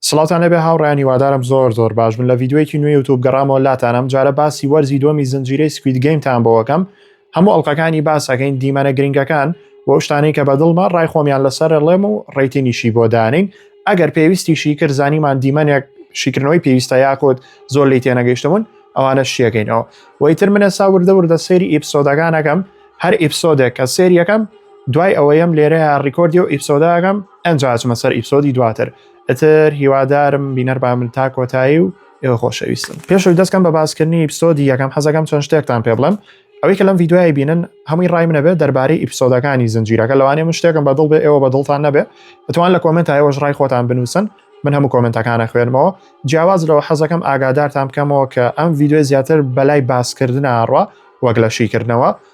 سڵاوتان لێبێ هاوڕێیان هیوادارم زۆر زۆر باش بن لە ڤیدیۆیەکی نوێ یوتوب گەڕامەوە لاتان ئەم جارە باسی وەرزی دووەمی زنجیرەی سکوید گەیمتان بۆەکەم هەموو ئەڵلقەکانی باسەکەین دیمەنە گرنگەکان و ئەو شتانەی کە بەدڵمە ڕای خۆمیان لەسەر ڕێڵێم و ڕێتینیشی بۆ دانین ئەگەر پێویستیشی کرد زانیمان دیمەنێک شیکردنەوەی پێویستە یاکۆت زۆر لی تێنەگەیشتبوون ئەوانە شیەکەینەوە وەیتر منە سا وردە وردە سێری ئیپسۆدەکانەکەم هەر ئیپسۆدێک کە سێریەکەم دوای ئەوەیەم لێرەیە ڕیکۆردی و ئیپسۆداگەم ئەنجاچمە سەر ئیپسۆدی دواتر ئەتر هیوادارم بینەر بامن تا کۆتایی و ئێوە خۆشەویستن پێشوی دەستکەم بە باسکردنی ئیپسۆدی یەکەم حەزەکەم چۆن شتێکتان پێ بڵێم ئەوەی کە لەم یددیوای بینن هەمووی ڕای منەبێت دەربارەی ئیپسۆدەکانی زنجیرەکە لەوانێ من شتێکم بەدڵ بێ ئێوە بەدڵتان نەبێ دەتوان لە کۆمنت تایەوەش ڕای خۆتان بنووسن من هەموو کۆمنتەکانە خوێنمەوە جیاواز لەوە حەزەکەم ئاگادارتان بکەمەوە کە ئەم یددیوێ زیاتر بەلای باسکردنە ئاڕوا وەک لە شیکردنەوە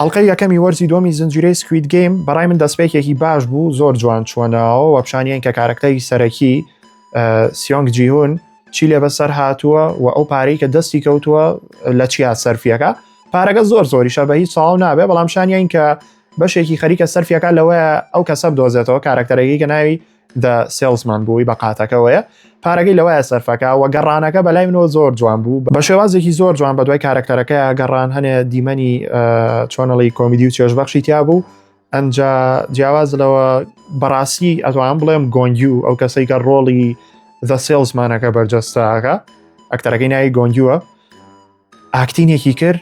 ئەڵقەی یەکەمی وەرزی دووەمی زنجیرەی سکوید گەیم بەڕای من دەستپێکێکی باش بوو زۆر جوان چووە ناوە وە پیشانیان کە کارەکتەری سەرەکی سیۆنگ جیهون چی لێ بەسەر هاتووە و ئەو پارەی کە دەستی کەوتووە لە چیا سەرفیەکە پارەکە زۆر زۆریشە بە هیچ ساڵ نابێ بەڵام شانیان کە بەشێکی خەریکە سەرفیەکە لەوەیە ئەو کەسە بدۆزێتەوە کارەکتەرەکەی کە ناوی The Salesman بووی بە قاتەکەوەیە پارەکەی لەوایە سەرفەکە وە گەڕانەکە بەلای منەوە زۆر جوان بوو بە شێوازێکی زۆر جوان بە دوای کارەکتەرەکە گەڕان هەنێ دیمەنی چۆنەڵی کۆمیدی و چێژبەخشی تیا بوو ئەجا جیاواز لەوە بەڕاستی ئەتوان بڵێم گۆنگیو ئەو کەسەی کە ڕۆڵی The Salesmanەکە بەرجەستاکە ئەکتەرەکەی ناوی گۆنگیوە ئاکتینێکی کرد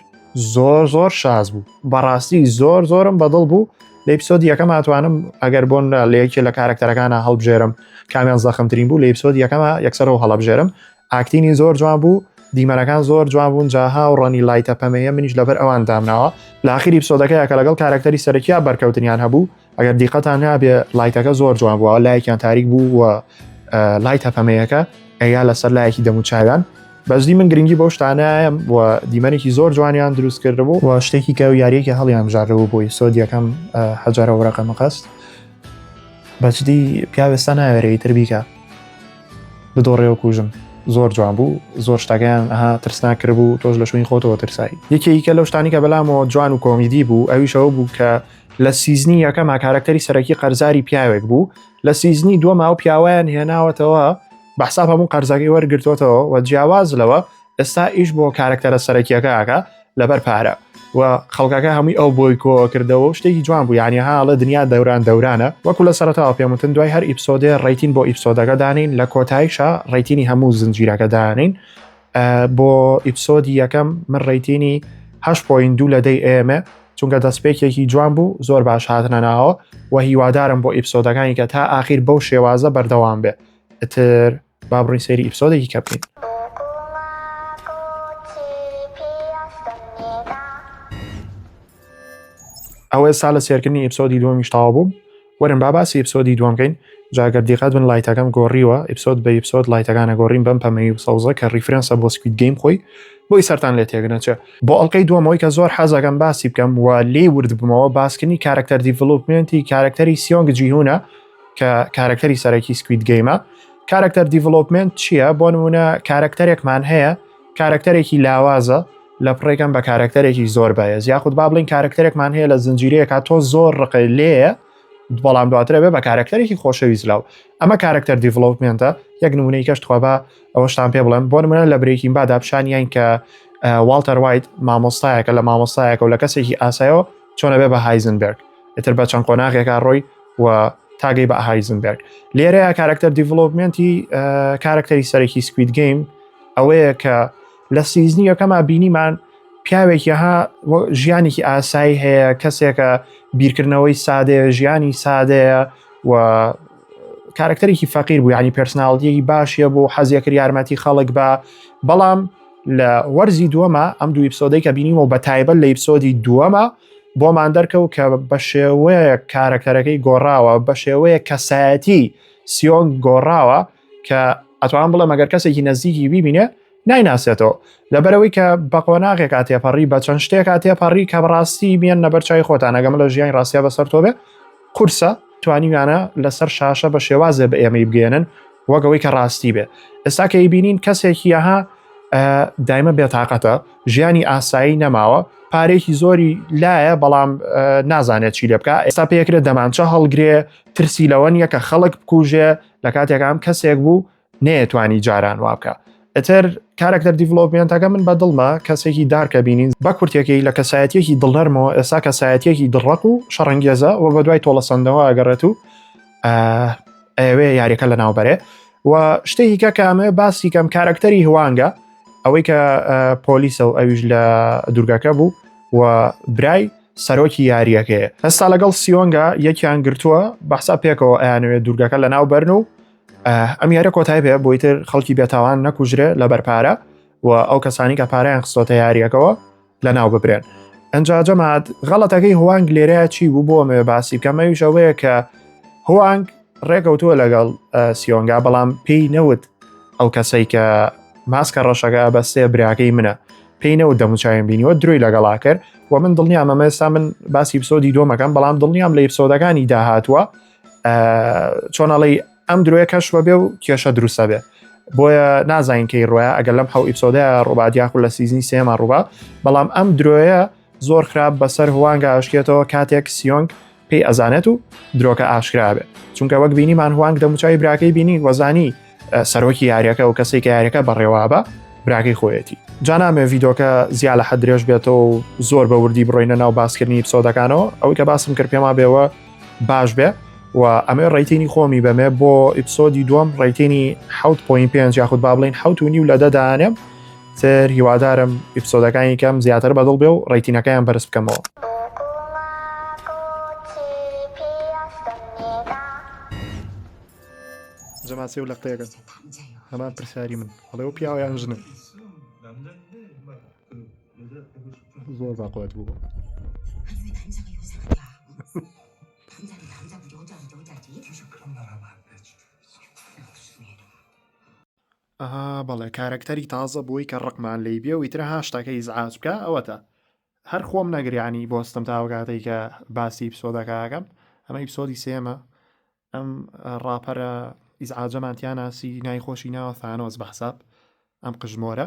زۆر زۆر شاز بوو بەڕاستی زۆر زۆرم بەدڵ بوو لە ئیپسۆد یەکەم ئەتوانم ئەگەر بۆن لە یەکێ لە کارەکتەرەکانە هەڵبژێرم کامیان زەخمترین بوو لە ئیپسۆد یەکەمە یەکسەرەوە هەڵبژێرم ئاکتینی زۆر جوان بوو دیمەنەکان زۆر جوان بوون جاها و ڕەنی لایتە پەمەیە منیش لەبەر ئەوان دامناوە لاخیری پسۆدەکەیە کە لەگەڵ کارکتەری سەرکیا بەرکەوتنیان هەبوو ئەگەر دیقەتان نابێ لایتەکە زۆر جوان بووە لایەکیان تاریک بوو و لای تەپەمەیەکە ئەیا لەسەر لایەکی دەموچاویان بەزدی من گرنگی بەو شتانایەم و دیمەنێکی زۆر جوانیان دروست کردبوو و شتێکی کە و یاریەکی هەڵیان ژارەوە بۆی سۆدیەکەم حەجارە وڕەقە مەقەست بەجدی پیاوێستا ناوێرەی تر بیکە بدۆڕێەوە کوژم زۆر جوان بوو زۆر شتەکەیان ئەها ترسنا کردبوو تۆش لە شوین خۆتەوە ترسایی یەکێکە لەو شتانی کە بەلامەوە جوان و کۆمیدی بوو ئەویشەوە بوو کە لە سیزنی یەکەما کارەکتەری سەرەکی قەرزاری پیاوێک بوو لە سیزنی دووەما و پیاویان هێناوەتەوە بەحساب هەموو قەرزەکەی وەرگرتوتەوە و جیاواز لەوە ئێستا ئیش بۆ کارەکتەرە سەرەکیەکەکە لەبەر پارە و خەڵکەکە هەمووی ئەو بۆی کۆ کردەوە و شتێکی جوان بوو یانی هاڵە دنیا دەوران دەورانە وەکو لە سەرتاوە پێموتن دوای هەر ئیپسۆدێ ڕیتین بۆ ئیپسۆدەکە دانین لە کۆتایشە ڕیتینی هەموو زنجیرەکە دانین بۆ ئیپسۆدی یەکەم من ڕیتینی هەش پۆین دوو لە دەی ئێمە چونکە دەستپێکێکی جوان بوو زۆر باش هاتنە ناوە و هیوادارم بۆ ئیپسۆدەکانی کە تا ئاخیر بەو شێوازە بەردەوام بێ ئەتر با بڕین سێری ئیپسۆدێکی کە بکەین ئەوە ئێستا لە سێرکردنی ئیپسۆدی دووەمیشتاوە بووم وەرن با باسی ئیپسۆدی دووەم کەین جا گەر دیقەت بن لایتەکەم گۆڕیوە ئیپسۆد بە ئیپسۆد لایتەکانە گۆڕیم بەم پەمەیی و سەوزە کە ریفرەنسە بۆ سکوید گەیم خۆی بۆی سەرتان لێ تێگنەچێ بۆ ئەڵلقەی دووەمەوەی کە زۆر حەزەکەم باسی بکەم و لێی ورد بمەوە باسکردنی کارەکتەر دیڤلوپمنتی کارەکتەری سیۆنگ جیهونە کە کارەکتەری سەرەکی سکوید گەیمە کارەکتەر دیڤلوپمنت چییە بۆ نمونە کارەکتەرێکمان هەیە کارەکتەرێکی لاوازە لە پڕێکم بە کارەکتەرێکی زۆر بەهێز یاخود با بڵین کارەکتەرێکمان هەیە لە زنجیرەیەکە تۆ زۆر ڕقی لێە بەڵام دواترە بێ بە کارەکتەرێکی خۆشەویست لاو ئەمە کارەکتەر دیڤڵوپمنتە یەک نمونەی کەش توابا ئەوەشتان پێ بڵێم بۆ منە لە برێکین بادا پیشانیان کە والتەر وایت مامۆستایەکە لە مامۆستایەکە و لە کەسێکی ئاسایەوە چۆنە بێ بە هایزنبرگ ئیتر بە چەند قۆناغێکا ڕۆی و تاگەی بە هایزنبرگ لێرەیە کارەکتەر دیڤڵۆپمنتی کارەکتەری سەرەکی سکویت گەیم ئەوەیە کە لە سیزنی یەکەما بینیمان پیاوێکی ها ژیانێکی ئاسایی هەیە کەسێکە بیرکردنەوەی سادەیە ژیانی سادەیە و کارکتەرێکی فەقیر بوو ینی پرسناڵدیەکی باشە بۆ حەزیەکرد یارمەتی خەڵک بە بەڵام لە وەرزی دووەمە ئەم دوو ئیپسۆدەی کە بینیمە و بە تایبەت لە ئیپسۆدی دووەمە بۆمان دەرکەوت کە بە شێوەیە کارکتەرەکەی گۆڕاوە بە شێوەیە کەسایەتی سیۆنگ گۆڕاوە کە ئەتوان بڵێ مەگەر کەسێکی نزیکی بیبینێ نایناسێتەوە لەبەرەوەی کە بەقۆناغێکا تێپەڕی بە چەند شتێکا تێپەڕی کە بەڕاستی بیان نەبەر چای خۆتانەگەم لە ژیانی ڕاستە بەسەر تۆ بێ قورسە توانیویانە لەسەر شاشە بە شێوازێ بە ئێمەی بگەێنن وەگەوەی کە ڕاستی بێ ئێستا کە بینین کەسێکی یەها دایمە بێتاقەتە ژیانی ئاسایی نەماوە پارێکی زۆری لایە بەڵام نازانێت چی لێ بکە ئێستا پێکرێت دەمانچە هەڵگرێ ترسی لەوە نیە کە خەڵک بکوژێ لە کاتێک ئەم کەسێک بوو نەیەتوانی جاران وابکە ئەتر کارەکتەر دیڤلۆپمنتەکە من بە دڵمە کەسێکی دارکە بینین بە کورتێکی لە کەسایەتێکی دڵەرمەوە ئێستا کەسایەتێکی دڕق و شەڕەنگێزە و بە دوای تۆڵەسەندەوە ئەگەڕێت و ئەوێ یاریەکە لە ناوبەرێ و شتێکی کە کامێ باسی کەم کارەکتەری هوانگە ئەوەی کە پۆلیسە و ئەویش لە دوورگەکە بوو و برای سەرۆکی یاریەکەیە ئەستا لەگەڵ سیۆنگا یەکیان گرتووە بەحسا پێکەوە ئەیانوێت دوورگەکە لە ناو بەرن و ئەم یارە کۆتای پێ بۆی تر خەڵکی بێتاوان نەکوژرێ لە بەرپارە و ئەو کەسانی کە پاریان خستۆتە یاریەکەەوە لە ناو ببرێن ئەجا جەمات غەڵەتەکەی هوانگ لێرە چی بوو بۆ مێ باسی کەمەویشەوەیە کە هوانگ ڕێکەوتووە لەگەڵ سیۆنگا بەڵام پێی نەوت ئەو کەسەی کە ماسکە ڕەشەکە بە سێ براکەی منە پێی نەوت دەموچاویم بینیوە درۆی لەگەڵا کرد و من دڵنیام ئەمە ئێستا من باسی پسۆدی دۆمەکەم بەڵام دڵنیام لە پسۆدەکانی داهاتوە چۆنەڵی ئەم درۆیە کەش بەبێ و کێشە دروستە بێ بۆیە نازانین کەی ڕۆە ئەگەر لەم حەو ئیپسۆدە ڕووبات یاخود لە سیزنی سێما ڕووبا بەڵام ئەم درۆیە زۆر خراپ بەسەر هوانگە ئاشکێتەوە کاتێک سیۆنگ پێی ئەزانێت و درۆکە ئاشکرا بێت چونکە وەک بینیمان هوانگ دەموچوی براکەی بینی وەزانی سەرۆکی یاریەکە و کەسێک یاریەکە بەڕێوابە براکەی خۆیەتی جانامێ ڤیدۆکە زیاد لە حەد درێژ بێتەوە و زۆر بە وردی بڕۆینە ناو باسکردنی پسۆدەکانەوە ئەوەی کە باسم کرد پێما بێەوە باش بێ و ئەمێ ڕیتینی خۆمی بەمێ بۆ ئیپسۆدی دوم ڕیتینی 6.5 یاخود با بڵین حوت و نیو لە دەدانێم تر هیوادارم ئیپسۆدەکانی کەم زیاتر بەدڵ بێ و ڕەیتینەکەیان بەرز بکەمەوە. جەماسی و لەقتەیەکە هەمان پرسیاری من هەڵێ و پیاوە یان ژنە زۆر باقوات بوو ئەها بەڵێ کارەکتەری تازە بووی کە ڕقمان لێی بێ و ئیتر ها شتەکە ئیزعاج بکا ئەوەتە هەر خۆم نەگریانی بۆ ستم تا ئەو کاتەی کە باسی ئیپسۆدەکەکەم ئەمە ئیپسۆدی سێمە ئەم ڕاپەرە ئیزعاجەمان تیاناسی نای خۆشی ناوە ثانۆس بە حساب ئەم قژمۆرە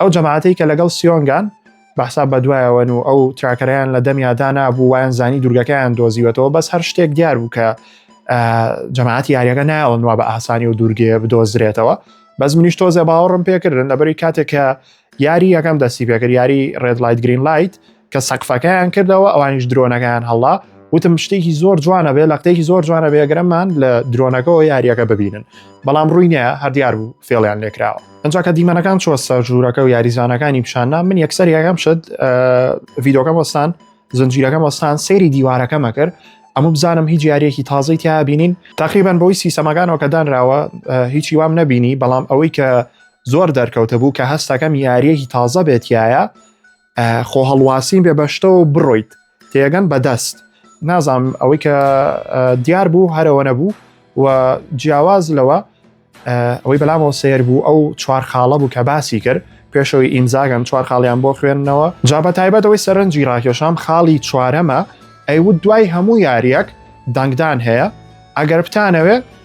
ئەو جەماعەتی کە لەگەڵ سیۆنگان بەحسا بە دوایەوەن و ئەو تراکەریان لە دەمیادا نبوو وایان زانی دوورگەکەیان دۆزیوەتەوە بەس هەر شتێک دیار بوو کە جەماعەتی یاریەکە نایەوەن وا بە ئاسانی و دوورگێ بدۆزرێتەوە بەس منیش تۆزێ باوەڕم پێکردن لەبەری کاتێک کە یاری یەکەم دەستی پێکرد یاری ڕێد لایت گرین لایت کە سەقفەکەیان کردەوە ئەوانیش درۆنەکەیان هەڵا وتم شتێکی زۆر جوانە بێ لە قتێکی زۆر جوانە بێگرەمان لە درۆنەکەەوە یاریەکە ببینن بەڵام ڕووی نیە هەردیار بوو فێڵیان لێکراوە ئەجا کە دیمەنەکان چۆ سەر ژوورەکە و یاریزانەکانی پیشاننا من یەکسەر یەکەم شت ڤیدۆکەم وەستان زنجیرەکەم وەستان سەیری دیوارەکەمە کرد ئەمە بزانم هیچ یاریەکی تازەی تیا بینین تقریبان بۆی سیسەمەکانەوە کە دانراوە هیچی وام نەبینی بەڵام ئەوەی کە زۆر دەرکەوتە بوو کە هەستەکەم یاریەکی تازە بێتایە خۆ هەڵواسین بێ بەشتەوە بڕۆیت تێگەن بەدەست نازام ئەوەی کە دیار بوو هەرەوە نەبوو و جیاواز لەوە ئەوەی بەلامەوە سیر بوو ئەو چوار خاڵە بوو کە باسی کرد پێشەوەی ئینزاگەن چوار خاڵیان بۆ خوێندنەوە جا بە تایبەتەوەی سەرنجی ڕاکێشام خاڵی چوارەمە ئەیوت دوای هەموو یاریەک دەنگدان هەیە ئەگەر بتانەوێ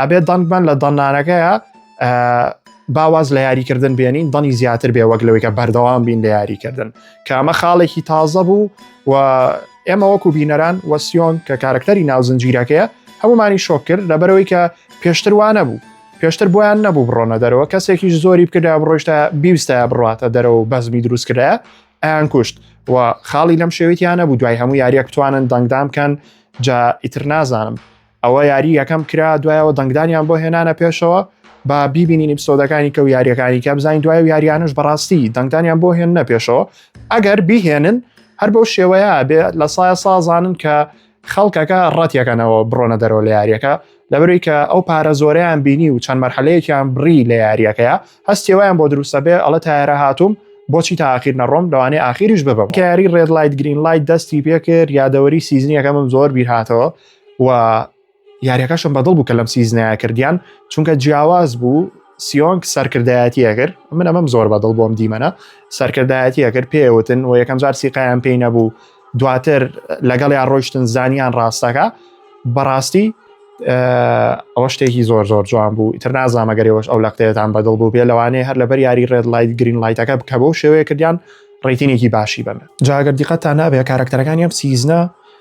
ئەبێ دەنگمان لە دەنانەکەیە باواز لە یاریکردن بێنین دەنی زیاتر بێ وەک لەوەی کە بەردەوام بین لە یاریکردن کە ئەمە خاڵێکی تازە بوو و ئێمە وەکو بینەران وەسیۆن کە کارکتەری ناوزنجیرەکەیە هەمومانی شۆک کرد لەبەرەوەی کە پێشتر وانە بوو پێشتر بۆیان نەبوو بڕۆنە دەرەوە کەسێکیش زۆری بکردا بڕۆشتە بیوستە بڕاتە دەرەوە بەزمی دروست کرایە ئەیان کوشت و خاڵی لەم شێویتیانە بوو دوای هەموو یاریەک توانن دەنگدام بکەن جا ئیتر نازانم ئەوە یاری یەکەم کرا دوایەوە دەنگدانیان بۆ هێنانە پێشەوە با بیبینین ئیپسۆدەکانی کە و یاریەکانی کە بزانین دوای و یاریانش بەڕاستی دەنگدانیان بۆ هێنە پێشەوە ئەگەر بیهێنن هەر بەو شێوەیە بێ لە سایە سازانن کە خەڵکەکە ڕەتیەکەنەوە بڕۆنە دەرەوە لە یاریەکە لەبەروی کە ئەو پارە زۆریان بینی و چەند مەرحەلەیەکیان بڕی لە یاریەکەیە هەستیەوەیان بۆ دروستە بێ ئەڵە تایرە هاتووم بۆچی تاخیر نەڕۆم لەوانێ ئاخیریش ببم کاری ڕێد لایت گرین لایت دەستی پێکرد یادەوەری سیزنیەکەمم زۆر بیرهاتەوە و یاریەکەشم بەدڵ بوو کە لەم سیزنەیە کردیان چونکە جیاواز بوو سیۆنگ سەرکردایەتیەکرد من ئەمەم زۆر بەدڵ بۆم دیمەنە سەرکردایەتیەکرد پێوتن و یەکەم جار سیقایان پێی نەبوو دواتر لەگەڵ یان ڕۆشتن زانیان ڕاستەکە بەڕاستی ئەوە شتێکی زۆر زۆر جوان بوو ئیتر نازانمەگەرەوەش ئەو لەقتێتان بەدڵ بوو بێ لەوانەیە هەر لەبەر یاری ڕێد لایت گرین لایتەکە بکە بۆ شێوەیە کردیان ڕیتینێکی باشی بن جاگەر دیقەتان نابێت کارکتەرەکانی ئەم سیزنە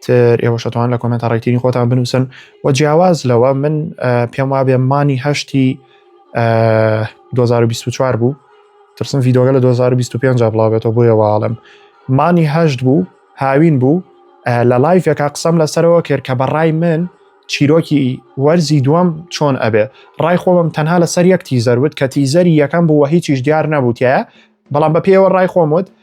تر ئێوەش ئەتوان لە کۆمێنتە ڕێکتیری خۆتان بنووسن و جیاواز لەوە من پێم وابێ مانی هەشتی 2024 بوو ترسم ڤیدۆگە لە 2025 بڵاوێتەوە بۆیە واڵم مانی هەشت بوو هاوین بوو لە لایفێکا قسەم لەسەرەوە کرد کە بەڕای من چیرۆکی وەرزی دووەم چۆن ئەبێ ڕای خۆمم تەنها لەسەر یەک تیزەر وت کە تیزەری یەکەم بووە هیچیش دیار نەبووتە بەڵام بە پێوە ڕای خۆم وت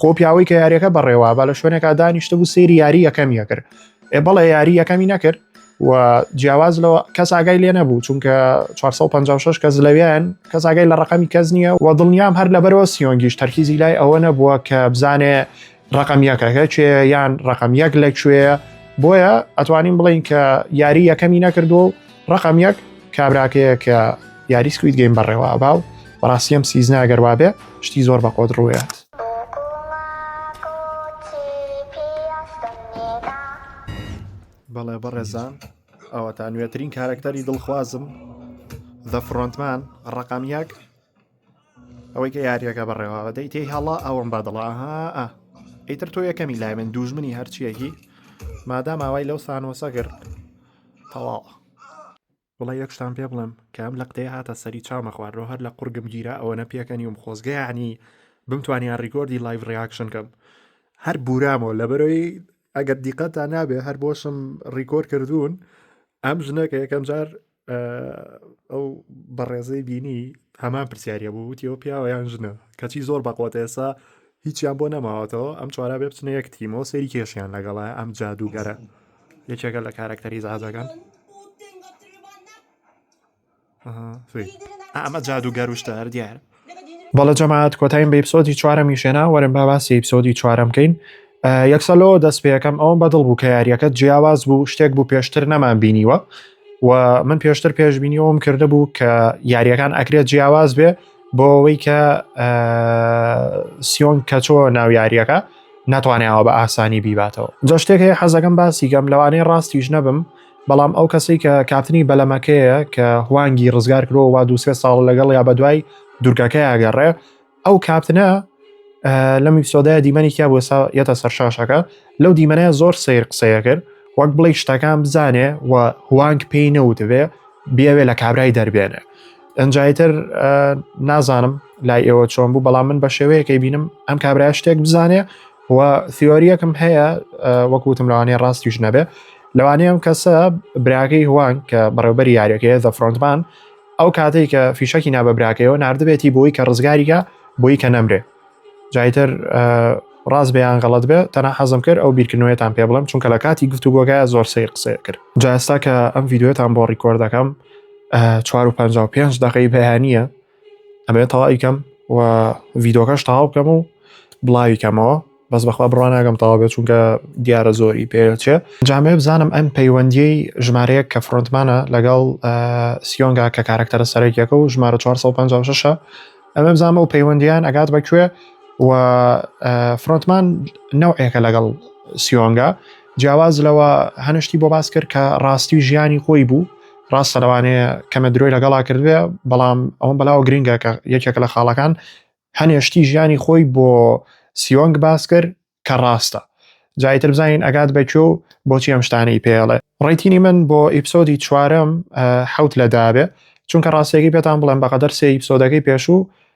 خۆ پیاوەی کە یاریەکە بەڕێوا بە لە شوێنێکا دانیشتە بوو سێری یاری یەکەم یەکرد ئێ بەڵێ یاری یەکەمی نەکرد و جیاواز لە کەس ئاگای لێ نەبوو چونکە 456 کەس لەویان کەس ئاگای لە ڕقەمی کەس نییە و دڵنیام هەر لەبەرەوە سیۆنگیش تەرکیزی لای ئەوە نەبووە کە بزانێ ڕقم یەکەکە چێ یان ڕقم یەک لەکوێ بۆیە ئەتوانین بڵین کە یاری یەکەمی نەکردو و ڕقم یەک کابراکەیە کە یاری سکوید گەیم بەڕێوە ئەبا و بەڕاستی ئەم سیزنە ئەگەر وابێ شتی زۆر بە قۆت ڕوویات بەڵێ بەڕێزان ئەوەتا نوێترین کارەکتەری دڵخوازم دە فڕۆنتمان ڕقم یەک ئەوەی کە یاریەکە بەڕێواوە دەی تێی هەڵا ئەوم بە دڵە ها ئیتر تۆ یەکەمی لای من دوژمنی هەرچیەکی مادام ئاوای لەو سانۆسە گرت تەواو وڵە یەکشتان پێ بڵم کە ئەم لە قتەیە هاتە سەری چاومە خوارەوە هەر لە قورگم گیرا ئەوە نە پێکەنیوم خۆزگەیانی بمتوانیان ڕیکۆردی لایڤ ڕیاکشن کەم هەر بورامەوە لە بەرەوەی ئەگەر دیقەتان نابێ هەر بۆشم ڕیکۆر کردوون ئەم ژنەکە یەکەم جار ئەو بەڕێزەی بینی هەمان پرسیارە بوو وتیەوە پیاوە یان ژنە کەچی زۆر بەقۆت ئێسا هیچیان بۆ نەماوەتەوە ئەم چوارا بێ بچنە یەک تیمەوە سەیری کێشیان لەگەڵە ئەم جادوگەرە یەکێکە لە کارەکتەری زازەکان ئەمە جادوگەر وشتار دیارە بەڵێ جەماعەت کۆتایم بە ئیپسۆدی چوارەمی شێنا وەرن با باسی ئیپسۆدی چوارەم بکەین یەکسەلۆ دەست پێەکەم ئەوم بەدڵ بوو کە یاریەکە جیاواز بوو شتێک بوو پێشتر نەمان بینیوە و من پێشتر پێشببینیەوەم کردە بوو کە یاریەکان ئەکرێت جیاواز بێ بۆ ئەوەی کە سیۆن کەچۆ ناو یاریەکە ناتوانیاوە بە ئاسانی بیباتەوە جا شتێک هەیە حەزەکەم باسیگەم لەوانەیە ڕاستیش نەبم بەڵام ئەو کەسەی کە کاپتنی بەلەمەکەیە کە هوانگی ڕزگار کرۆ وا دووسێ ساڵ لەگەڵ یا بە دوای دوورگەکەی ئەگەڕێ ئەو کاپتنە لەم ئیپسۆدای دیمەنی کیا بۆ سا یەتە سەرشاشەکە لەو دیمەنە زۆر سیر قسەیە کرد وەک بڵێ شتەکان بزانێ و هوانگ پێی نەوتبێ بیاوێ لە کابرای دەربێنێ ئەنجایتر نازانم لای ئێوە چۆن بوو بەڵام من بە شێوەیەکەی بینم ئەم کابرای شتێک بزانێ و سیۆریەکم هەیە وەکوتم لەوانەیە ڕاستیش نەبێ لەوانەیەم کەسە براکەی هوان کە بەڕێوبەر یاریەکەیە زە فرۆنتمان ئەو کاتێک کە فیشەکی نابە براکەیەوە نردبێتی بۆی کە ڕزگاریگە بۆی کە نەمرێ جایتر ڕاست بەیان غەڵت بێ تەنە حەزم کرد ئەو بیرکردنوێتان پێ بڵم چونکە لە کاتی گفتوگۆگە زۆر سی قسە کرد جاستا کە ئەم یددیوێتان بۆ ڕیکۆردەکەم 4 5 دقی بەیانە ئەمەوێت تەواوی کەم و ڤیدۆکەش تەواو بکەم و بڵاوی کەمەوە بەس بەخوا بڕواناگەم تەواو بێت چونکە دیارە زۆری پێچێ جامێ بزانم ئەم پەیوەندی ژمارەیە کە فرۆنتمانە لەگەڵ سیۆنگا کە کارکتەرە سەرەکیەکە و ژمارە 456 ئەمە بزانمە و پەیوەندیان ئەگات بەکوێ و فرۆنتمان نەوعێکە لەگەڵ سیۆنگا جیاواز لەوە هەنە شتی بۆ باس کرد کە ڕاستی ژیانی خۆی بوو ڕاستە لەوانەیە کەمە درۆی لەگەڵا کردێ بەڵام ئەوم بەلاوە گرنگە کە یەکێکە لە خاڵەکان هەنێشتی ژیانی خۆی بۆ سیۆنگ باس کرد کە ڕاستە جایتر بزانین ئەگات بەکوێ و بۆچی ئەم شتانەی پێڵێ ڕیتینی من بۆ ئیپسۆدی چوارم حوت لە دابێ چونکە ڕاستێکی پێتان بڵێن بەقەدەر سێ ئیپسۆدەکەی پێشوو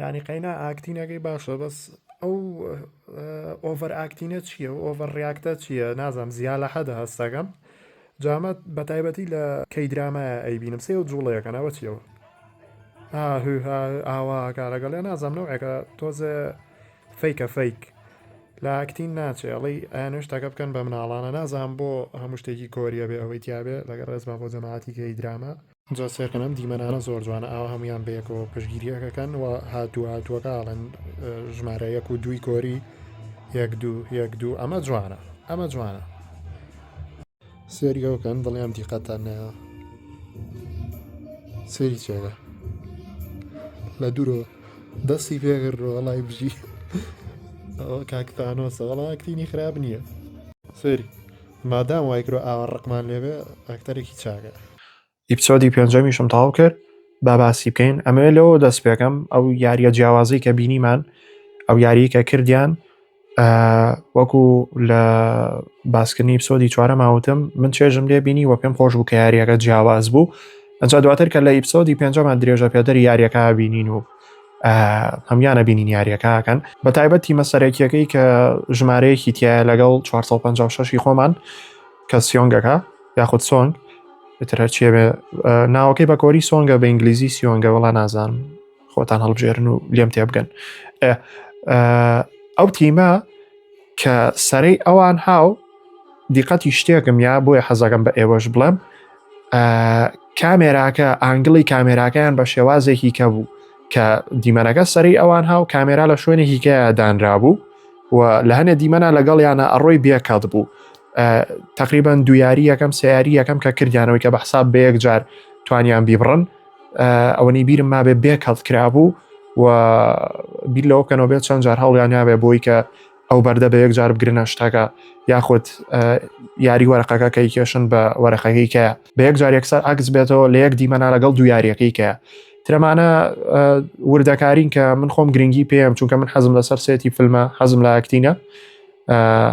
یانی قەینا ئاکتینەکەی باشە بەس ئەو ئۆڤەر ئاکتینە چییە و ئۆڤەر ڕاکتە چییە نازانم زییا لە حەدە هەستەکەم جامەت بە تایبەتی لە کەی درامایە ئەیبینم سێ و جوڵەیەکەنەوە چیەوە ئاوا کارەگەڵ لە نازانم نەوەکە تۆزە فیکە فیک لە ئاکتین ناچێ ئەڵی ئەیانش تاکە بکەن بە مناڵانە نازان بۆ هەموو شتێکی کۆریە بێ ئەوەی تیاابێ لەگە ڕێزما بۆ جەماعاتیکەی درامە جا سێرکەن ئەم دیمەنانە زۆر جوانە ئاوا هەمویان بەیەکەوە پشگیریەکەکەن و هاتوو هاتووەکە ئاڵێن ژمارە یەک و دووی گۆری یەک دوو یەک دوو ئەمە جوانە ئەمە جوانە سێریەوەکەن دڵیان دیقەتان نەیە سێری چێگە لە دوورۆ دەستی پێگر ڕۆڵای بژی کاکتانۆسە وڵاکتینی خراپ نییە سێری مادام وایکرۆ ئاوە ڕقمان لێبێ ئەکتەرێکی چاگە ئیپسۆدی پێنجەمیشم تەواو کرد با باسی بکەین ئەمەوێت لەوە دەست پێکەم ئەو یاریە جیاوازی کە بینیمان ئەو یاری کە کردیان وەکو لە باسکردنی پسۆدی چوارە ماوتم من چێژم لێ بینی وە پێم خۆش بوو کە یاریەکە جیاواز بوو ئەجا دواتر کە لە ئیپسۆدی پێنجەمان درێژە پێدەری یاریەکە بینین و هەمیانە بینین یاریەکەکەن بە تایبەت تیمە سەرەکیەکەی کە ژمارەیەکی تایە لەگەڵ 456 خۆمان کە سیۆنگەکە یاخود سۆنگ تر هەرچیە بێ ناوەکەی بە کۆری سۆنگە بە ئینگلیزی سیۆنگە وڵا نازان خۆتان هەڵبژێرن و لێم تێ بگەن ئەو تیمە کە سەرەی ئەوان هاو دیقەتی شتێکم یا بۆیە حەزەکەم بە ئێوەش بڵێم کامێراکە ئانگلی کامێراکەیان بە شێوازێکی کە بوو کە دیمەنەکە سەری ئەوان هاو کامێرا لە شوێنێکی کە دانرابوو و لە هەنێ دیمەنا لەگەڵیانە ئەڕۆی بێکات بوو تقریبان دویاری یەکەم سیاری یەکەم کە کردیانەوەی کە بە حساب بە یەک جار توانیان بیبڕن ئەوەنی بیرم مابێ بێکات کرابوو و بیر لەوە بکەنەوە بێت چەند جار هەڵیان نابێ بۆی کە ئەو بەردە بە یەک جار بگرنە شتەکە یاخود یاری وەرەقەکە کەی کێشن بە وەرەقەکەی کە بە یەک جار یەکسەر عکس بێتەوە لە یەک دیمەنا لەگەڵ دو یاریەکەی کە ترەمانە وردەکارین کە من خۆم گرنگی پێم چونکە من حەزم لەسەر سێتی فیلمە حەزم لە ئەکتینە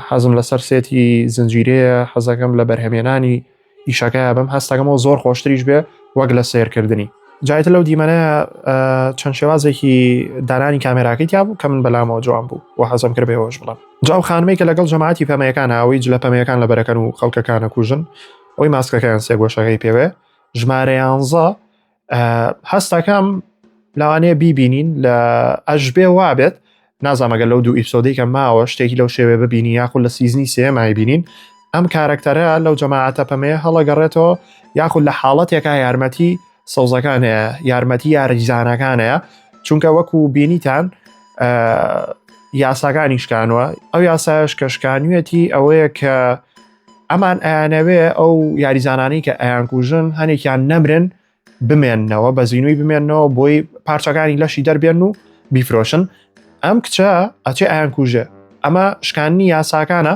حەزم لەسەر سێتی زنجیرەیە حەزەکەم لە بەرهەمێنانی ئیشەکە بم هەستەکەمەوە زۆر خۆشتریش بێ وەک لە سیرکردنی جایتە لەو دیمەنە چەند شێوازێکی دانانی کامێراکەی تیا بوو کە من بەلامەوە جوان بوو و حەزم کرد بێەوەش بڵم جاو خانمەی کە لەگەڵ جەماعتی پەمەیەکان ئەوەی جلە پەمەیەکان لە بەرەکەن و خەڵکەکانە کوژن ئەوی ماسکەکەیان سێگۆشەکەی پێوێ ژمارەیانزە هەستەکەم لەوانەیە بیبینین لە ئەشبێ وابێت نازانمەگە لەو دوو ئیپسۆدیکە ماوە شتێکی لەو شێوێ ببینی یاخود لە سیزنی سێمای بینین ئەم کارەکتەرە لەو جەماعەتە پەمەیە هەڵەگەڕێتەوە یاخود لە حاڵەتێکا یارمەتی سەوزەکان هەیە یارمەتی یاریزانەکان هەیە چونکە وەکو بینیتان یاساکانی شکانوە ئەو یاسایش کە شکانویەتی ئەوەیە کە ئەمان ئەیانەوێ ئەو یاریزانانی کە ئەیانکوژن هەنێکیان نەمرن بمێنەوە بە زیینوی بمێنەوە بۆی پارچەکانی لەشی دەربێن و بیفرۆشن ئەم کچە ئەچێ ئایان کوژێ ئەمە شکاننی یاساکانە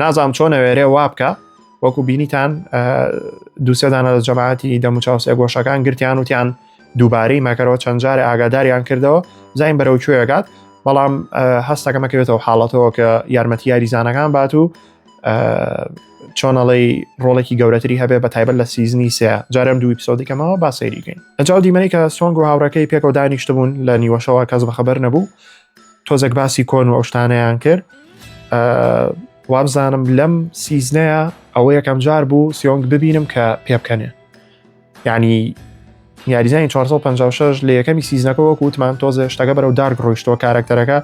نازام چۆن نەوێرێ وا بکە وەکو بینیتان دووسێدانە لە جەماعەتی دەموچاوسێ گۆشەکان گرتیان وتیان دووبارەی مەکەرەوە چەند جارێ ئاگاداریان کردەوە زین بەرەو کوێەکات بەڵام هەستەکەمەکەوێتەوە حاڵەتەوە کە یارمەتی یاریزانەکان بات و چۆنەڵی ڕۆڵێکی گەورەتری هەبێ بە تایبەت لە سیزنی سێ جارم دوو پیسۆدیکەمەوە با سەیریکەین ئەجااو دیمەنی کە سۆنگ و هاوڕەکەی پێکەوە دانیشت بوون لە نیوەشەوە کەس بەخەبەر نەبوو تۆزێک باسی کۆن و ئەوشتانەیان کرد وابزانم لەم سیزنەیە ئەوە یەکەم جار بوو سیۆنگ ببینم کە پێبکەنێ یعنی یاریزانی 456 لە یەکەمی سیزنەکە وەکو وتمان تۆزێ شتەکە بەرەو دارک ڕۆیشتەوە کارەکتەرەکە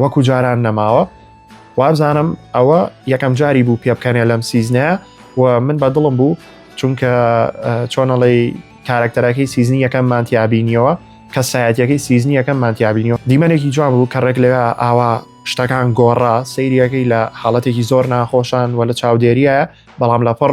وەکو جاران نەماوە وابزانم ئەوە یەکەم جاری بوو پێ بکەنێ لەم سیزنە و من بە دڵم بوو چونکە چۆنەڵی کارەکتەرەکەی سیزنی یەکەم مانتیابینیەوە کە سایەتەکەی سیزنی یەکەم مانتیابینیەوە دیمەنێکی جوان بوو کە ڕێک لەوێ ئاوا شتەکان گۆڕا سەیریەکەی لە حاڵەتێکی زۆر ناخۆشان و لە چاودێریە بەڵام لە پڕ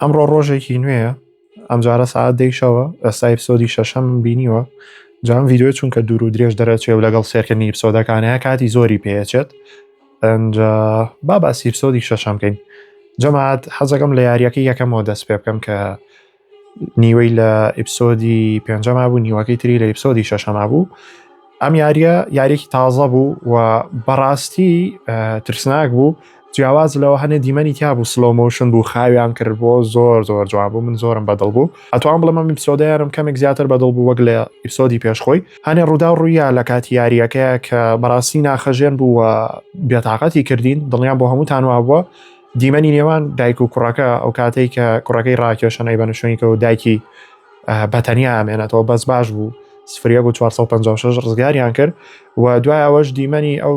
ئەمڕۆ ڕۆژێکی نوێە ئەمجارە ساعت دەیشەوە ئەسای پسۆدی شەشەم بینیوە جام یددیو چونکە دوور و درێژ دەرەچێ و لەگەڵ سێرکردنی پسۆدەکانەیە کاتی زۆری پێچێت با باسی پسۆدی شەشەم بکەین جەماعات حەزەکەم لە یاریەکە یەکەمەوە دەست پێ بکەم کە نیوەی لە ئیپسۆدی پێنجەما بوو نیوەکەی تری لە ئیپسۆدی شەشەما بوو ئەم یاریە یاریێکی تازە بوو و بەڕاستی ترسناک بوو جیاواز لەوە هەنێ دیمەنی تیا بوو سلۆمۆشن بوو خاویان کرد بۆ زۆر زۆر جوان بوو من زۆرم بەدڵ بوو ئەتوان بڵم ئەم ئیپسۆدەیانم کەمێک زیاتر بەدڵ بوو وەک لە ئیپسۆدی پێشخۆی هەنێ ڕوودا و ڕوویا لە کاتی یاریەکەیە کە بەڕاستی ناخەژێن بوو و بێتاقەتی کردین دڵیان بۆ هەموو تانوا بووە دیمەنی نێوان دایک و کوڕەکە ئەو کاتێک کە کوڕەکەی ڕاکێشن ئەی بەنشوینکە و دایکی بەتەنیا ئامێنێتەوە بەس باش بوو سفرە بۆ 456 ڕزگاریان کرد و دوای ئەوەش دیمەنی ئەو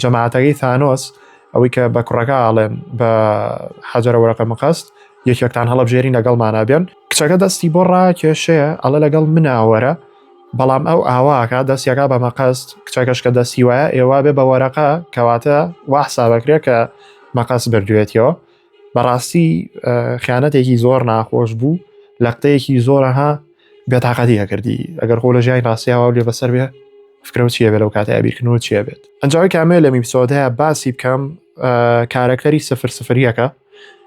جەماعاتەکەی ثانۆس ئەوەی کە بە کوڕەکە ئاڵێن بە حەجرە وەرەقە مقەست یەکێکتان هەڵبژێری لەگەڵمانە بێن کچەکە دەستی بۆ ڕاکێشەیە ئەڵە لەگەڵ مناوەرە بەڵام ئەو ئاوا ئەکا دەستی ئەکا بە مەقەست کچەکەش کە دەستی وایە ئێوا بێ بە وەرەقە کەواتە وا حسابەکرێ کە مەقەست بردوێتیەوە بەڕاستی خیانەتێکی زۆر ناخۆش بوو لە قتەیەکی زۆرەها بێتاقەتی ئەکردی ئەگەر خۆ لە ژیانی ڕاستیاوا لێ بەسەر بێ فکرە چیە بێ لەو کاتە بیرکردنەوە چیە بێت ئەنجاوی کامێ لە میپسۆدەیە باسی بکەم کارەکتەری سفر سفریەکە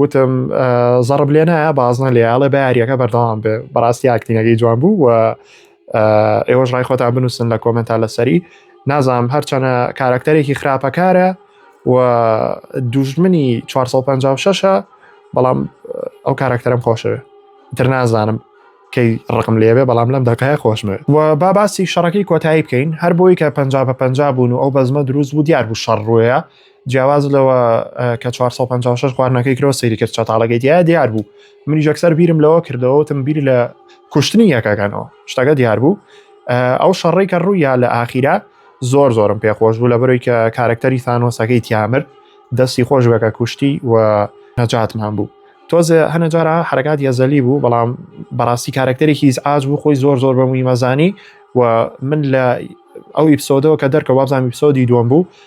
وتم زەڕب لێ نایە بازنە لێ ئاڵێ بە یاریەکە بەردەوام بێ بەڕاستی ئاکتینەکەی جوان بوو و ئێوەش ڕای خۆتان بنووسن لە کۆمنتا لەسەری نازام هەرچەنە کارکتەرێکی خراپەکارە و دوژمنی 456ە بەڵام ئەو کارکتەرم خۆشەوێ تر نازانم کەی ڕقم لێبێ بەڵام لەم دەکایە خۆشمێ و با باسی شەڕەکەی کۆتایی بکەین هەر بۆی کە پ پ بوون و ئەو بەزمە دروست بوو دیار بوو شەڕ ڕوەیە جیاواز لەوە کە 456 خواردنەکەی کرۆ سەیری کرد چەتاڵەکەی دیار دیار بوو منی جەکسەر بیرم لەوە کردەوەتم بیر لە کوشتنی یەکەکەنەوە شتەکە دیار بوو ئەو شەڕی کە ڕوویا لە ئاخیرا زۆر زۆرم پێخۆش بوو لە بەرەوەی کە کارەکتەری سانۆسەکەی تیامر دەستی خۆش بەکە کوشتی و نەجاتمان بوو تۆزێ هەنە جارە حرکات یەزەلی بوو بەڵام بەڕاستی کارەکتەرێکی هیچ ئاج بوو خۆی زۆر زۆر بەموی مەزانی و من لە ئەو ئیپسۆدەوە کە دەرکە وابزانام ئیپسۆدی دووەم بوو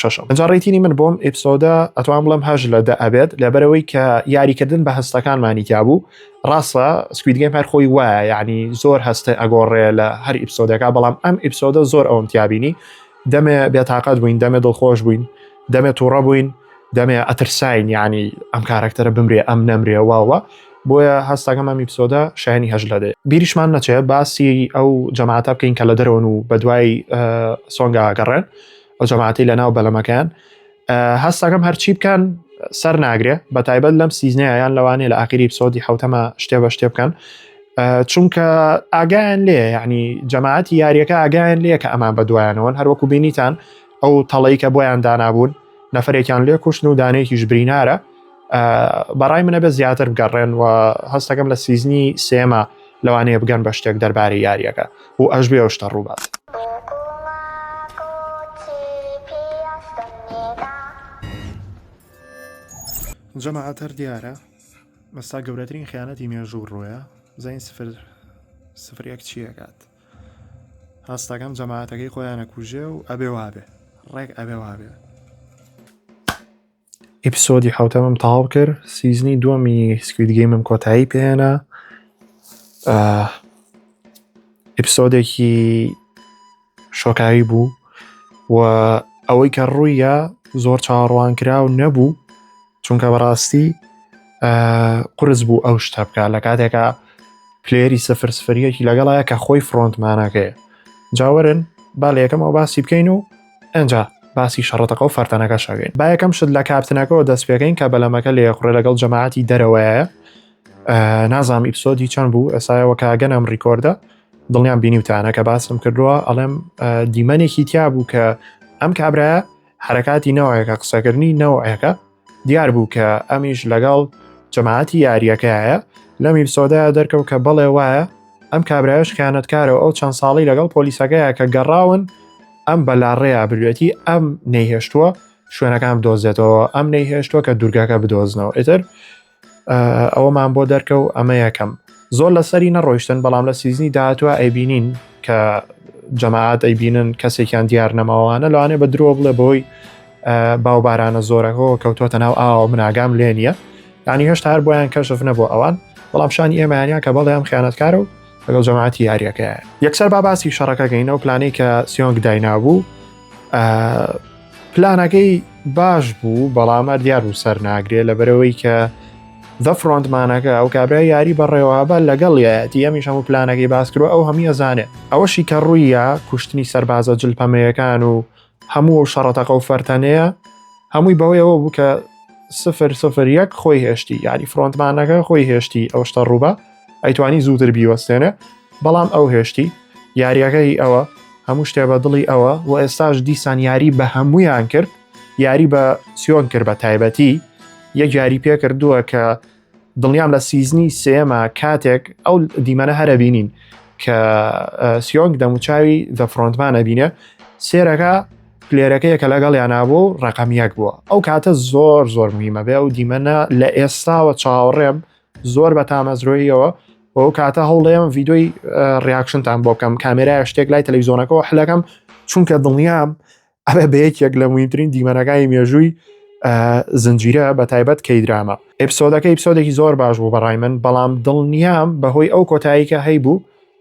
شەشەم ئەجا ڕیتینی من بۆم ئیپسۆدە ئەتوان بڵم هەژ لە دە ئەبێت لەبەرەوەی کە یاریکردن بە هەستەکانمانی تیابوو ڕاستە سکویدگەی پار خۆی وایە یعنی زۆر هەستە ئەگۆڕێ لە هەر ئیپسۆدەکە بەڵام ئەم ئیپسۆدە زۆر ئەوم تیابینی دەمێ بێتاقەت بووین دەمێ دڵخۆش بووین دەمێ تووڕە بووین دەمێ ئەترساین یعنی ئەم کارەکتەرە بمرێ ئەم نەمرێ واوە بۆیە هەستەکەم ئەم ئیپسۆدە شایانی هەژ لە دێ بیریشمان نەچێت باسی ئەو جەماعتا بکەین کە لە دەرەوەن و بە دوای سۆنگا گەڕێن ئەو جەماعەتی لە ناو بەلەمەکەیان هەستەکەم هەرچی بکەن سەر ناگرێ بە تایبەت لەم سیزنەیان لەوانێ لە ئاخری پسۆدی حوتەمە شتێ بە شتێ بکەن چونکە ئاگایان لێ ینی جەماعەتی یاریەکە ئاگایان لێ کە ئەمان بە دوایانەوەن هەروەکو بینیتان ئەو تەڵی کە بۆیان دانابوون نەفرێکیان لێ کوشتن و دانێکیش برینارە بەڕای منە بە زیاتر بگەڕێن و هەستەکەم لە سیزنی سێمە لەوانەیە بگەن بە شتێک دەربارەی یاریەکە و ئەش بێ شتە ڕووبات. جەماعەتەر دیارە مەستا گەورەترین خیانەتی مێژوو ڕۆیە زین سفر سفرێک چیەکات هەستەکەم جەماعەتەکەی خۆیانە کوژێ و ئەبێ وابێ ڕێک ئەبێ وابێ ئیپسۆدی حوتەمەم تەواو کرد سیزنی دووەمی سکویدگەیمم کۆتایی پێێنە ئیپسۆدێکی شۆکاوی بوو و ئەوەی کە ڕوویە زۆر چاڕوان کرا و نەبوو چونکە بەڕاستی قرس بوو ئەو شتە بکە لە کاتێکا پلێری سفر سفریەکی لەگەڵایە کە خۆی فرۆنتمانەکەی جاوەرن با لە یەکەمەوە باسی بکەین و ئنجا باسی شەڕەتەقە و فەرتەنەکە شاگەین با یەکەم شت لە کاپتنەکەەوە دەست پێکەین کە بەلەمەکە لێ خوڕێ لەگەڵ جەماعەتی دەرەوەیە نازام ئیپسۆدی چەند بوو ئێسایەوە کاگەنم ڕیکۆردە دڵنیان بینیوتانە کە باسم کردووە ئەڵێم دیمەنێکی تیا بوو کە ئەم کابراە حرکاتی نەوەیەکە قسەکردنی نەوەیەکە دیار بوو کە ئەمیش لەگەڵ جەماعەتی یارییەکەیە لەم ئیپسۆدەیە دەرکەوت کە بەڵێ وایە ئەم کابرایش خیانەتکارە و ئەو چەند ساڵی لەگەڵ پۆلیسەکەیە کە گەڕاون ئەم بەلاڕێیا بروێتی ئەم نەیهێشتووە شوێنەکان بدۆزێتەوە ئەم نەیهێشتووە کە دوورگەکە بدۆزنەوە ئیتر ئەوەمان بۆ دەرکە و ئەمە یەکەم زۆر لەسەری نەڕۆیشتن بەڵام لە سیزنی داهاتوە ئەیبینین کە جەماعات ئەیبینن کەسێکیان دیار نەماوانە لەوانێ بە درۆ بڵێ بۆی باوبارانە زۆرەکەەوە کەوتۆتە ناو ئاوە مناگام لێ نییە ینی هەشتا هەر بۆیان کەشف نەبوو ئەوان بەڵام شانی ئێمانیان کە بەڵێ ئەم خیانەتکارە و لەگەڵ جەماعاتی یاریەکەیە یەکسەر با باسی شەڕەکەگەینەوە پلانەی کە سیۆنگ داینابوو پلانەکەی باش بوو بەڵام ئەدیار و سەر ناگرێ لە بەرەوەی کە دە فرۆندمانەکە ئەو کابرا یاری بەڕێوابە لەگەڵ یەتی ئەمیش هەموو پلانەکەی باسکرۆ ئەو هەمی ئەزانێت ئەوەشی کە ڕوویە کوشتنی سەربازە جلپەمەیەکان و هەموو و شەڕەتەقە و فەرتەنەیە هەمووی بەوەیەوە بوو کە سفر سفر یەک خۆی هێشتی یاری فرۆندمانەکە خۆی هێشتی ئەو شتە ڕووبە ئەیتوانی زووتر بیوەستێنێ بەڵام ئەو هێشتی یاریەکەی ئەوە هەموو شتێ بە دڵی ئەوە و ئێستاش دیسان یاری بە هەمویان کرد یاری بە سیۆن کرد بە تایبەتی یەک یاری پێ کردووە کە دڵنیام لە سیزنی سێمە کاتێک ئەو دیمەنە هەرە بینین کە سیۆنگ دەموچاوی دە فرۆنتمان ئەبینێ سێرەکە پلێرەکەیە کە لەگەڵ یانابوو ڕقمیەک بووە ئەو کاتە زۆر زۆر مهمە بێ و دیمەە لە ئێستاوە چاوەڕێم زۆر بە تامەزرۆییەوە ئەو کاتە هەوڵێم ڤیدۆی ڕیاکشنتان بۆ بکەم کامێرای شتێک لای تەلەویزۆنەکەەوە حلەکەم چونکە دڵنیام ئەە بە یەکێک لە مویترین دیمەنەکانی مێژووی زنجیرە بە تایبەت کەی درامە ئەپسۆدەکە ئیپسۆدێکی زۆر باش بوو بەڕای من بەڵام دڵنیام بەهۆی ئەو کۆتاییکە هەیبوو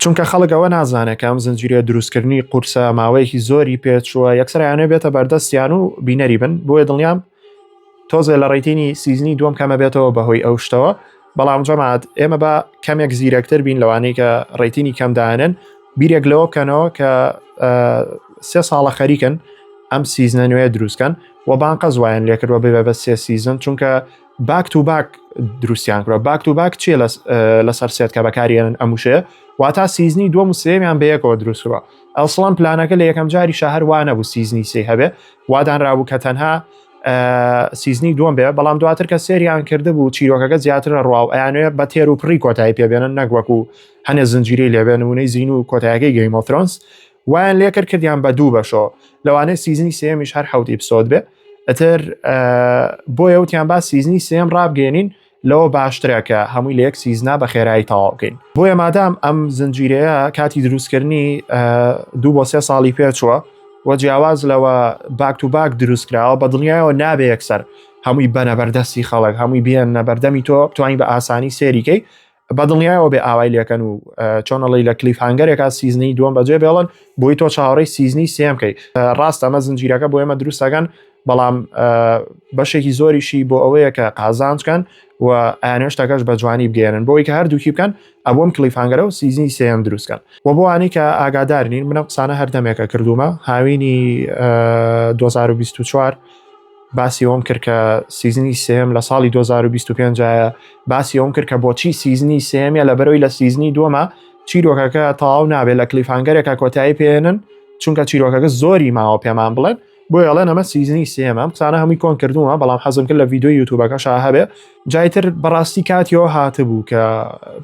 چونکە خەڵک ئەوە نازانێت کە ئەم زنجیرەیە دروستکردنی قورسە ماوەیەکی زۆری پێچووە یەکسەر یانێ بێتە بەردەستیان و بینەری بن بۆیە دڵنیام تۆزێ لە ڕێتینی سیزنی دوم کەمە بێتەوە بەهۆی ئەو شتەوە بەڵام جەمات ئێمە بە کەمێک زیرەکتر بین لەوانەیە کە ڕێتینی کەمدانن بیرێک لەوە بکەنەوە کە سێ ساڵە خەریکن ئەم سیزنە نوێ دروستکەن و بانقە زوایان لێکردوە ببێ بە سێ سیزن چونکە باک تو باک دروستیان کرا باک تو باک چیە لەسەر سێت کە بەکارێنن ئەموشێ واتا سیزنی دووە مسێمیان بەیەکەوە دروستکرا ئەسڵان پلانەکە لە یەکەم جاری شەهر وانە بوو سیزنی سی هەبێ وادانرابوو کە تەنها سیزنی دوم بێ بەڵام دواتر کە سریان کرده بوو چیرۆکەکە زیاتر لە ڕواو ئەیانێ بە تێر و پڕی کۆتایی پێبێنن نەگوەکو هەنێ زنجیری لێبێنونەی زین و کۆتایەکەی گەیمۆفرۆنس وایان لێ کرد کردیان بە دوو بەشەوە لەوانەیە سیزنی سێمیش هەر حوت ئیپسۆد بێ ئەتر بۆ یوتیان با سیزنی سێم ڕابگەێنین لەوە باشترە کە هەمووی لە یەک سیزنا بە خێرایی تەواو بکەین بۆیە مادام ئەم زنجیرەیە کاتی دروستکردنی دوو بۆ سێ ساڵی پێچووە و جیاواز لەوە باک و باک دروستکراوە بە دڵنیایەوە نابێ یەکسەر هەمووی بەنەبەردەستی خەڵک هەمووی بێن نەبەردەمی تۆ توانین بە ئاسانی سێریکەی بە دڵنیایەوە بێ ئاوای لەکەن و چۆنەڵی لە کلیف هەنگەرێکا سیزنی دووەم بەجێ بێڵن بۆی تۆ چاوەڕی سیزنی سێم کەی ڕاست ئەمە زنجیرەکە بۆ ئێمە دروستەکەن بەڵام بەشێکی زۆریشی بۆ ئەوەیە کە قازانچکەن و ئەنێشتەکەش بە جوانی بگەێنن بۆی کە هەردووکی بکەن ئەبووم کلیفانگەرە و سیزنی سێم دروستکەن و بۆوانی کە ئاگادار نین منە قسانە هەردەمێکە کردومە هاوینی 2024 باسی ئەوەم کرد کە سیزنی سێم لە ساڵی 2025 باسی ئەوم کرد کە بۆچی سیزنی سێمیە لە بەرەوەی لە سیزنی دووەمە چیرۆکەکە تەواو نابێت لە کلیفانگەرێکە کۆتایی پێێنن چونکە چیرۆکەکە زۆری ماوە پێمان بڵێن بۆ یاڵێن ئەمە سیزنی سێمە قسانە هەمووی کۆن کردووە بەڵام حەزم کرد لە یددیو یوتوبەکە شا هەبێ جایتر بەڕاستی کاتیەوە هاتبوو کە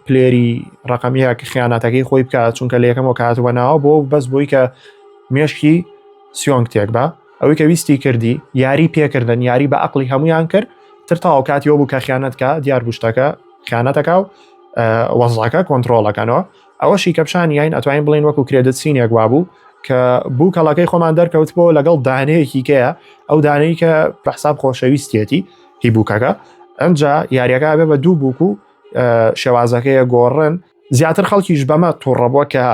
پلێری ڕقمیە کە خیانەتەکەی خۆی بکات چونکە لە یەکەمەوە کاتوە ناوە بۆ بەس بۆی کە مێشکی سیۆنگ تێک بە ئەوەی کە ویستی کردی یاری پێکردن یاری بە عقلی هەمویان کرد تر تاو کاتی بوو کە خیانەتکە دیار بوشتەکە خیانەتەکە و وەزڵەکە کۆنتترۆلەکەنەوە ئەوەشی کەپشانی یاین ئەتوانین بڵین وەکو کرێدت سینێک وابوو کە بوو کەڵەکەی خۆمان دەرکەوت بۆ لەگەڵ دانەیەکی کەیە ئەو دانەی کە پرحساب خۆشەویستێتی هی بووکەکە ئەمجا یاریەکە بێ بە دوو بووک و شێوازەکەیە گۆڕن زیاتر خەڵکیش بەمە توڕەبووە کە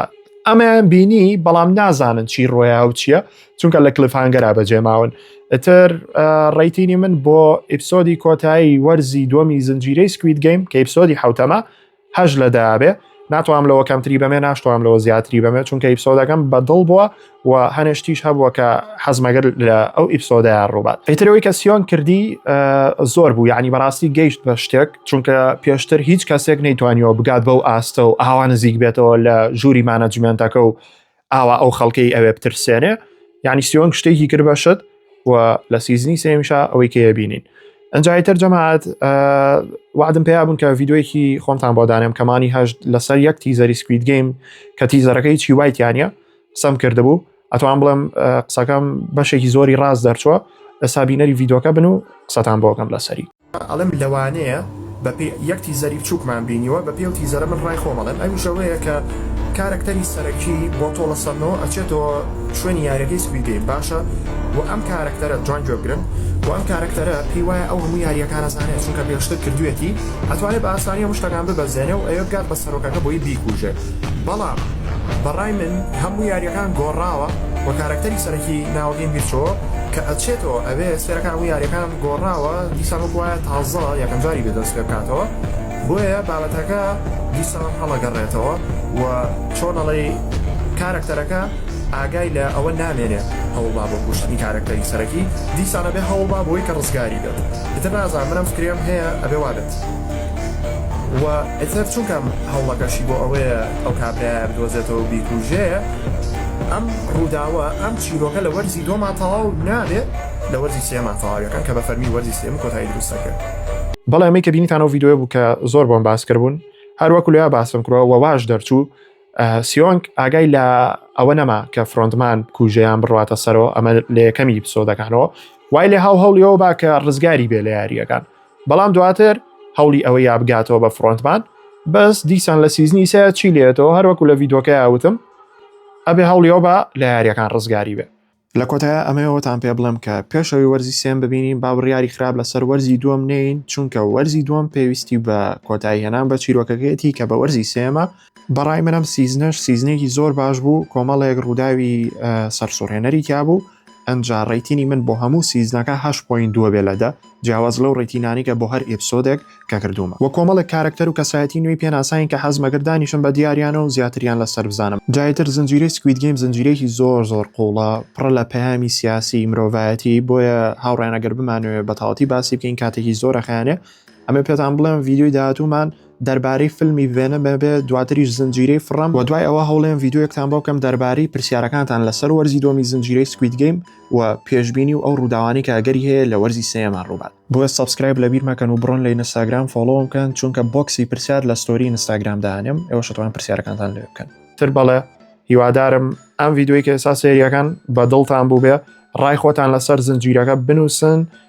ئەمەیان بینی بەڵام نازانن چی ڕۆیا و چییە چونکە لە کلفانگەرا بەجێماون ئەتر ڕیتینی من بۆ ئیپسۆدی کۆتایی وەرزی دومی زنجیرەی سکویت گەیم کە ئیپسۆدی حوتەمە هەش لە دابێ ناتوانم لەوە کەمتری بەمێ ناشتوانم لەوە زیاتری بەمێ چونکە ئیپسۆدەکەم بەدڵ بووە و هەنشتیش هەبووە کە حەزمەگەر لە ئەو ئیپسۆدایان ڕووبات ئەیترەوەی کە سیۆن کردی زۆر بوو یعنی بەڕاستی گەیشت بە شتێک چونکە پێشتر هیچ کەسێک نەیتوانیەوە بگات بەو ئاستە و ئاوا نزیک بێتەوە لە ژووری مانەجمنتەکە و ئاوا ئەو خەڵکەی ئەوێ بترسێنێ یعنی سیۆن شتێکی کرد بەشت و لە سیزنی سێمیشا ئەوەی کێ بینین ئەنجایتر جەماعات وادم پێیا بوون کە یددیوەیەکی خۆمتان بۆ دانێم کەمانی هەشت لەسەر یەک تیزەری سکویت گەیم کە تیزەرەکەی چی وایتیانە قسەم کردبوو ئەتوان بڵێم قسەکەم بەشێکی زۆری ڕاز دەرچووە ئەسا بینەری یددیوکە بن و قسەتان بۆگەم لەسەری ئەڵم لەوانەیە بەپی یەک تیزەری بچووکمان بینیوە بە پێو تیزەرە من ڕای خۆم ئەڵێم ئەویش ئەوەیە کە کارەکتەری سەرەکی بۆ تۆڵە سەنەوە ئەچێتەوە شوێنی یارەکەی سپیدەین باشە و ئەم کارەکتەرە جوان گوێبگرن و ئەم کارەکتەرە پێی وایە ئەو هەموو یاریەکانە زانێت چونکە پێشتر کردوێتی ئەتوانێت بە ئاسانی هەموو شتەکان ببەزێنێ و ئەوێ بگات بە سەرۆکەکە بۆی بیکوژێت بەڵام بەڕای من هەموو یاریەکان گۆڕاوە وە کارەکتەری سەرەکی ناوەگەیم بیرچۆ کە ئەچێتەوە ئەبێ سفێرەکان هەموو یاریەکان گۆڕاوە دیسان وەک وایە تازە یەکەم جاری بێت بەم سفێر بکاتەوە بۆیە بابەتەکە دیسان هەڵەگەڕێتەوە وە چۆن ئەڵێی کارەکتەرەکە ئاگای لە ئەوە نامێنێ هەوڵبا بۆ کوشتنی کارەکتەری سەرەکی دیسان ئەبێ هەوڵبا بۆی کە ڕزگاری بێت ئیتر نازانم من ئەم فکرەیەم هەیە ئەبێ وابێت. وە ئیتر چونکەم هەوڵەکەشی بۆ ئەوەیە ئەو کابرایە بدۆزێتەوەو بیکوژێ ئەم ڕووداوە ئەم چیرۆکە لە وەرزی دووەما تەواو نابێ لە وەرزی سێما تەواویەکەن کە بە فەرمی وەرزی سێم کۆتایی دروست ئەکەن. بەڵێ ئەمەی کە بینیتان ئەو ڤیدیۆیە بوو کە زۆر بۆم باس کردبوون هەر وەکو لێا باسم کرۆ وە واش دەرچوو سیۆنگ ئاگای لە ئەوە نەما کە فرۆندمان کوژەیان بڕاتە سەرەوە ئەمە لە یەکەمی پسۆدەکانەوە وای لێ هاو هەوڵیەوە با کە ڕزگاری بێ لە یاریەکان بەڵام دواتر هەوڵی ئەوە یا بگاتەوە بە فرۆنتمان بەس دیسان لە سیزنی سە چی لێتەوە هەروەکو لە ڤیدۆکە یاوتم ئەبێ هەوڵیەوە بە لە یاریەکان ڕزگاری بێ لە کۆتایە ئەمەوەتان پێ بڵم کە پێشەوەی وەرزی سێم ببینین با بڕیاری خراپ لەسەر وەرزی دووەم نین چونکە وەرزی دووەم پێویستی بە کۆتایی هێنان بە چیرۆکەکەیەتی کە بە وەرزی سێمە بەڕای من ئەم سیزنەش سیزنێکی زۆر باش بوو کۆمەڵێک ڕووداوی سەرسوڕێنەری تیا بوو ئەجا ڕێتینی من بۆ هەموو سیزنەکە هەش پوین دووە بێ لەدە جیاواز لەو ڕێتینانیکە بۆ هەر ئیپسۆدێک کە کردومە وە کۆمەڵێک کارکتەر و کەسایەتی نوێی پێناساین کە حەز مەگردانیشم بە دیاریانە و زیاتریان لەسەر بزانم جایتر زنجیرەی سکوید گەیم زنجیرەیەکی زۆر زۆر قوڵە پڕە لە پەیامی سیاسی مرۆڤایەتی بۆیە هاوڕێنەگەر بمانوێ بەتاڵتی باسی بکەین کاتێکی زۆرە خیانێ ئەمە پێتان بڵێم ڤیددیوی داهاتومان دەربارەی فلمی ڤێنم بێ دواتریش زنجیرەی فڕم و دوای ئەوە هەوڵێن ڤیددیوەکتان بۆ بکەم دەربارەی پرسیارەکانتان لەسەر وەرزی دۆمی زنجیرەی سکویت گەیم و پێشببینی و ئەو ڕووداوانی کە گەری هەیە لە وەرزی سێمان ڕووبات بۆیە سبسکرایب لە بیر مەکەن و بڕۆن لە ئینستاگرام فۆڵۆوم بکەن چونکە بۆکسی پرسیار لە ستۆری ئینستاگرام دانێم ئێوە شتوان پرسیارەکانتان لێ بکەن تر بەڵێ هیوادارم ئەم ڤیددیوی کە ئێستا سێریەکان بە دڵتان بوو بێ ڕای خۆتان لەسەر زنجیرەکە بنووسن